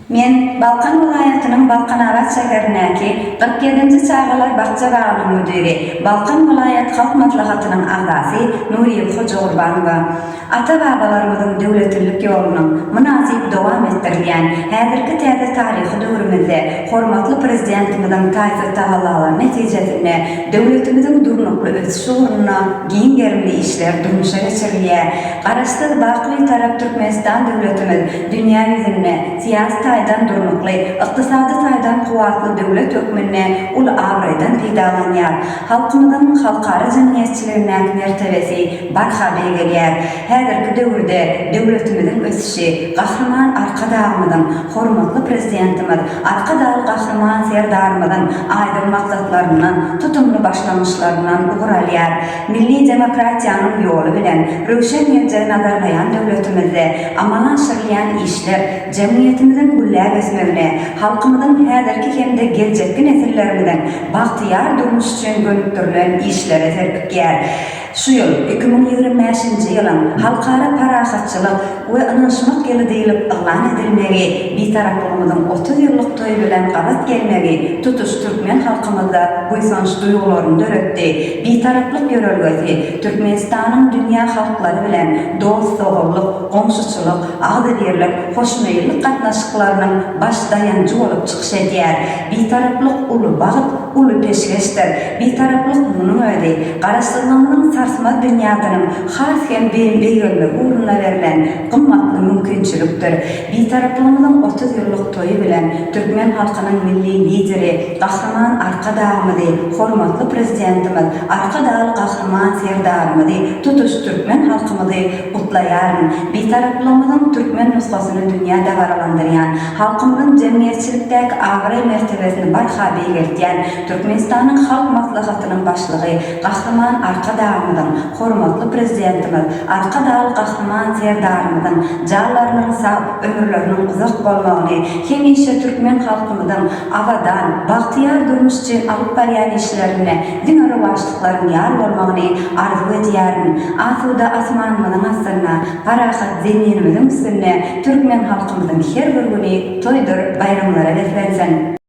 Men Balkan welaýatynyň Balkanabat şäherindäki kyrk ýedinji çagalar bakja bagynyň müdiri, Balkan welaýat Halk Maslahatynyň agzasy Nurýeli Hojagurbanowa ata-babalarymyzyň döwletlilik ýolunyň mynasyp dowam etdirilýän häzirki täze taryhy döwrümizde hormatly Prezidentimiziň taýsyz tagallalary netijesinde döwletimiziň durnukly ösüşi ugrunda giň gerimli işler durmuşa geçirilýär. Garaşsyz, baky Bitarap Türkmenistan döwletimiz dünýä ýüzünde syýasy taýdan durnukly, ykdysady taýdan kuwwatly döwlet hökmünde uly abraýdan peýdalanýar. Halkymyzyň halkara jemgyýetçiligindäki mertebesi barha beýgelýär. Häzirki döwürde döwletimiziň ösüşi Gahryman Arkadagymyzyň, hormatly Prezidentimiz Arkadagly Gahryman Serdarymyzyň aýdyň maksatlaryndan, tutumly başlangyçlaryndan ugur alýar. Milli demokratiýanyň ýoly bilen röwşen geljegi nazarlaýan döwletimizde amala aşyrylýan işler jemgyýetimiziň gülläp ösmegine, halkymyzyň häzirki hem-de geljekki nesillerimiziň bagtyýar durmuşy üçin gönükdirilen işlere serpikýär. Şu ýyl, iki müň ýigrimi bäşinji ýylyň Halkara parahatçylyk, we ynanyşmak ýyly diýlip yglan edilmegi, Bitaraplygymyzyň otuz ýyllyk toýy bilen gabat gelmegi tutuş türkmen halkymyzda buýsanç duýgularyny döretdi. Bitaraplyk ýörelgesi Türkmenistanyň dünýä halklary bilen dost-doganlyk, goňşuçylyk, agzybirlik, hoşmeýillik gatnaşyklarynyň baş daýanjy bolup çykyş edýär. Bitaraplyk uly bagt, uly peşgeşdir. Bitaraplyk munuň özi, Garaşsyzlygymyzyň sarsmaz binýadynyň has hem belent beýgelmegi ugrunda berlen gymmatly mümkinçilikdir. Bitaraplygymyzyň otuz ýyllyk toýy bilen türkmen halkynyň Milli Lideri, Gahryman Arkadagymyzy, hormatly Prezidentimiz, Arkadagly Gahryman Serdarymyzy, tutuş türkmen halkymyzy gutlaýaryn. Bitaraplygymyzyň türkmen nusgasyny dünýä dabaralandyrýan, halkymyzyň jemgyýetçilikdäki abraý-mertebesini barha beýgeltýän, Türkmenistanyň Halk Maslahatynyň Başlygy Gahryman Arkadagymyzyň, hormatly Prezidentimiz Arkadagly Gahryman Serdarymyzyň janlarynyň sag, ömürleriniň uzak bolmagyny, hemişe türkmen halkymyzyň abadan, bagtyýar durmuş üçin alyp barýan işlerinde diňe rowaçlyklaryň ýar bolmagyny arzuw edýärin. Asuda asmanymyzyň astynda, parahat Zeminimiziň üstünde türkmen halkymyzyň her bir güni toýdur baýramlara beslensin!